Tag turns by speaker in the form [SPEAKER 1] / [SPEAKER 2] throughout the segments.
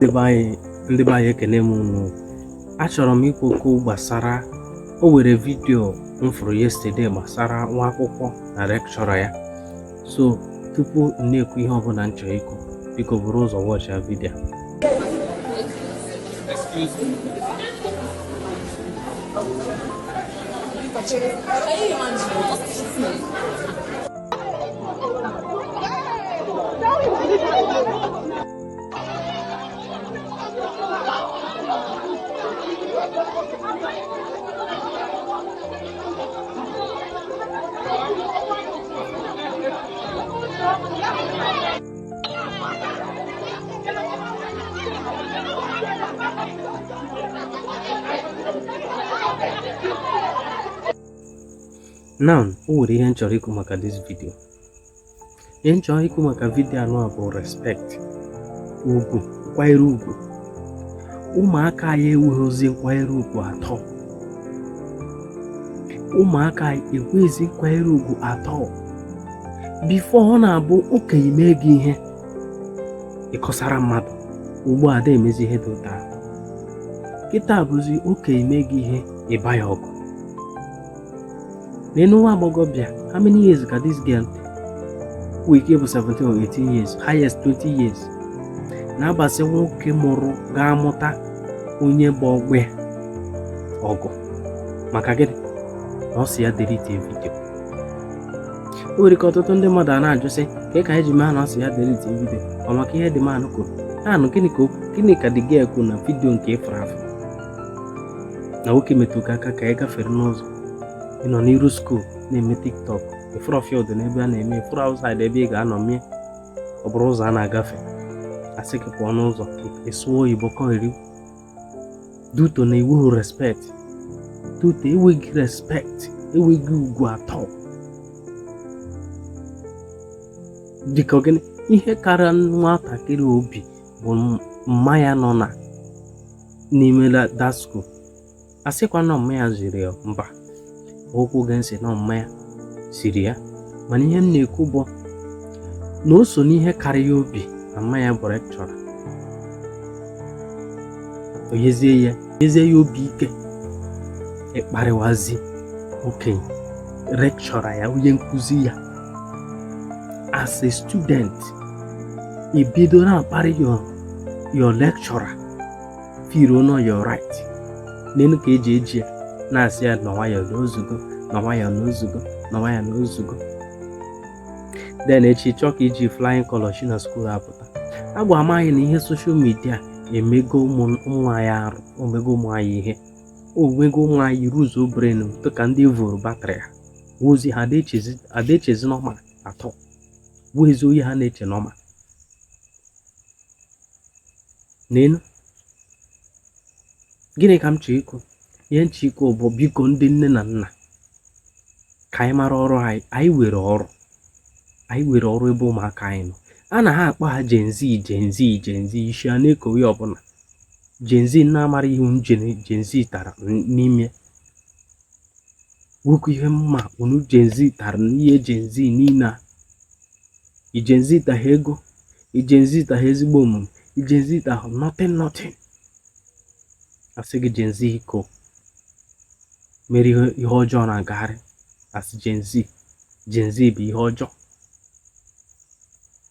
[SPEAKER 1] ndị be anyị ekene m unu achọrọ m ikwu okwu gbasara o nwere vidio m fụrụ yesterday gbasara nwa akwụkwọ na lecturer ya so tupu m na-ekwu ihe ọbụla m chọrọ ikwu biko buru ụzọ wọchịa vidio Excuse me. Now, o nwere ihe m chọrọ ikwu maka this video. ihe m chọrọ ikwu maka vidio anụwa bụ respect ugwu nkwanyere ugwu ụmụaka anyị enweghịzi nkwanyere ugwu at all ụmụaka anyị enweghịzi nkwanyere ugwu at all before ọ na-abụ okenye mee gị ihe ị kọsara mmadụ ugbu a da emezi ihe dị otu a kịta bụzi okenye mee gị ihe ị baa ya ọgụ Lee nwa agbọghọbịa, how many years ka this girl nwere ike ịbụ 17 or 18 years, highest 20 years. Na-abasi nwoke mụrụ ga-amụta onye bụ ọgbọ ya ọgụ maka gịnị na ọ sị ya delete vidio o nwere ike ọtụtụ ndị mmadụ a na-ajụ sị ka ka e ji mee na ọ sị ya delete vidio ọ maka ihe the man kwuru naanụ gịnị ka gịnị ka the girl kwuru na vidio nke ị fụrụ afụ na nwoke metụ gị aka ka a gafere n'ụzọ ị nọ n'iru skuul na-eme tiktok ị fụrọ field n'ebe a na-eme ị fụrọ outside ebe ị ga-anọ mie ọ bụrụ ụzọ a na-agafe a sị gị pụọ n'ụzọ ị sụọ oyibo kọgheri due to na i nwerọ respect due to enweghị respect enweghị ugwu at all dịka gịnị ihe kara nwatakịrị obi bụ mma ya nọ na n'ime that school asịkwa na ọ mma ya ziri ya mba ekwughị m sị na ọ mma ya ziri ya mana ihe m na-ekwu bụ na o so n'ihe kara ya obi na mma ya bụ lecturer o nyezie ya o nyezie ya obi ike ịkparịwazi okenye lecturer ya onye nkụzi ya as a student i bido na-akparị your lecturer firuo know your right n'elu ka eji eji ya na-asị ya na nwayọọ na ozugbo na nwayọọ na ozugbo na nwayọọ na ozugbo then echi chọọ ka iji flying color shi na skuul apụta agwa m anyị na ihe social media emego ụmụ anyị arụ o mego ụmụ anyị ihe o mego ụmụ anyị ruzuo brain dịka ndị vụrụ batrị ha ozi ha adị echezi normal at all o nwezi onye ha na-eche normal n'elu gịnị ka m chọrọ ikwu ihe m chọrọ ikwu bụ biko ndị nne na nna ka anyị mara ọrụ anyị anyị nwere ọrụ anyị nwere ọrụ ebe ụmụaka anyị nọ a na ha akpọ ha Gen Z Gen Z Gen Z isi a na-ekowe ya ọbụla Gen Z na-amara ihe unu Gen Z tara n'ime nwekwa ihe mma unu Gen Z tara n'ihe Gen Z niile a ị Gen Z taghị ego ị Gen Z taghị ezigbo omume ị Gen Z taghị nothing nothing a sị gị Gen Z iko mere ihe ọjọọ na-agagharị a sị Gen Z Gen Z bụ ihe ọjọọ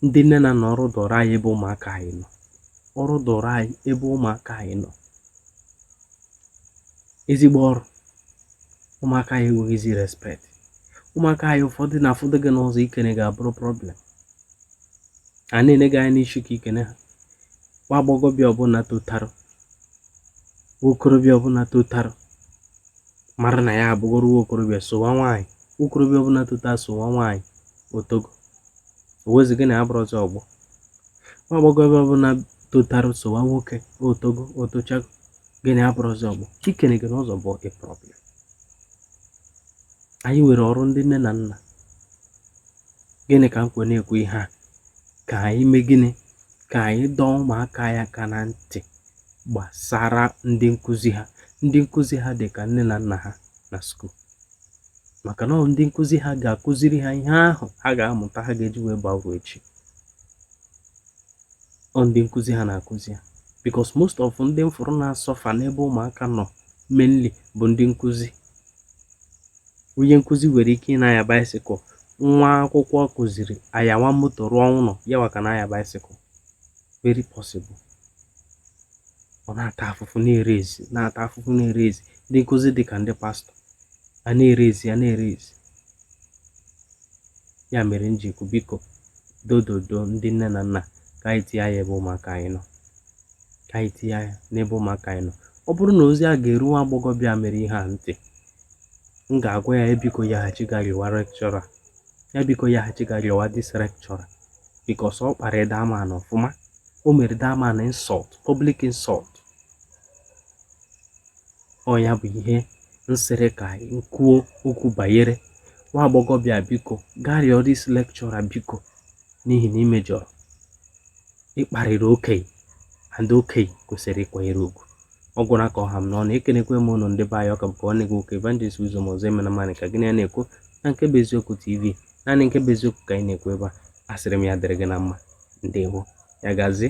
[SPEAKER 1] ndị nne na nna ọrụ dụrụ anyị ebe ụmụaka anyị nọ ọrụ dụrụ anyị ebe ụmụaka anyị nọ ezigbo ọrụ ụmụaka anyị enweghịzi respect ụmụaka anyị ụfọdụ na-afụdụ gị n'ụzọ ikene gị abụrụ problem ha na-ele gị anya n'isi ka i kene ha nwa agbọghọbịa ọbụla totarụ nwa okorobịa ọbụla totarụ mara na ya abụgoro nwa okorobịa sowa nwaanyị nwa okorobịa ọbụla tota sowa nwaanyị o togo o wezi gị na ya bụrụzi ọgbọ nwa agbọghọbịa ọbụla totarụ sowa nwoke o togo o tochago gị na ya abụrụzi ọgbọ ikene gị n'ụzọ bụ problem anyị nwere ọrụ ndị nne na nna gịnị ka m kwe na-ekwu ihe a ka anyị mee gịnị ka anyị dọọ ụmụaka anyị aka na ntị gbasara ndị nkụzi ha ndị nkụzi ha dị ka nne na nna ha na skuul maka na ọ ndị nkụzi ha ga-akụziri ha ihe ahụ ha ga-amụta ha ga-eji wee baa uru echi ọ ndị nkụzi ha na-akụzi ha because most of ndị m fụrụ na-asọfa n'ebe ụmụaka nọ mainly bụ ndị nkụzi onye nkụzi nwere ike ịna-anya bicycle nwa akwụkwọ ọ kụziri anyawa moto rụọ ụlọ ya nwa ka na-anya bicycle very possible ọ na-ata afụfụ na-eraise na-ata afụfụ na-eraise ndị nkụzi dị ka ndị pastọ a na-eraise a na-eraise ya mere m ji ekwu biko dododo ndị nne na nna ka anyị tinye anya ebe ụmụaka anyị nọ ka anyị tinye anya n'ebe ụmụaka anyị nọ ọ bụrụ na ozi a ga-eru nwa agbọghọbịa mere ihe a ntị m ga-agwa ya biko ya hachi gaa rịọwa lecturer ya biko ya hachi gaa rịọwa this lecturer because ọ kpara the man ọfụma o mere the man insult public insult ọ ya bụ ihe m sịrị ka anyị kwuo okwu banyere nwa agbọghọbịa biko gaa rịọ this lecturer biko n'ihi na i mejọrọ ị kparịrị okenye and okenye kwesịrị ịkwanyere ugwu ọ gwụra ka ọ ha m n'ọnụ ekenekwe m ụnụ ndị be anyị ọ ka bụkwa nwanne gị nwoke Evangelist Uzoma Ozoemenam Ani ka gị na ya na-ekwu na nke bụ eziokwu tv naanị nke bụ eziokwu ka anyị na-ekwu ebe a asịrị m ya dịrị gị na mma ndewo ya gazie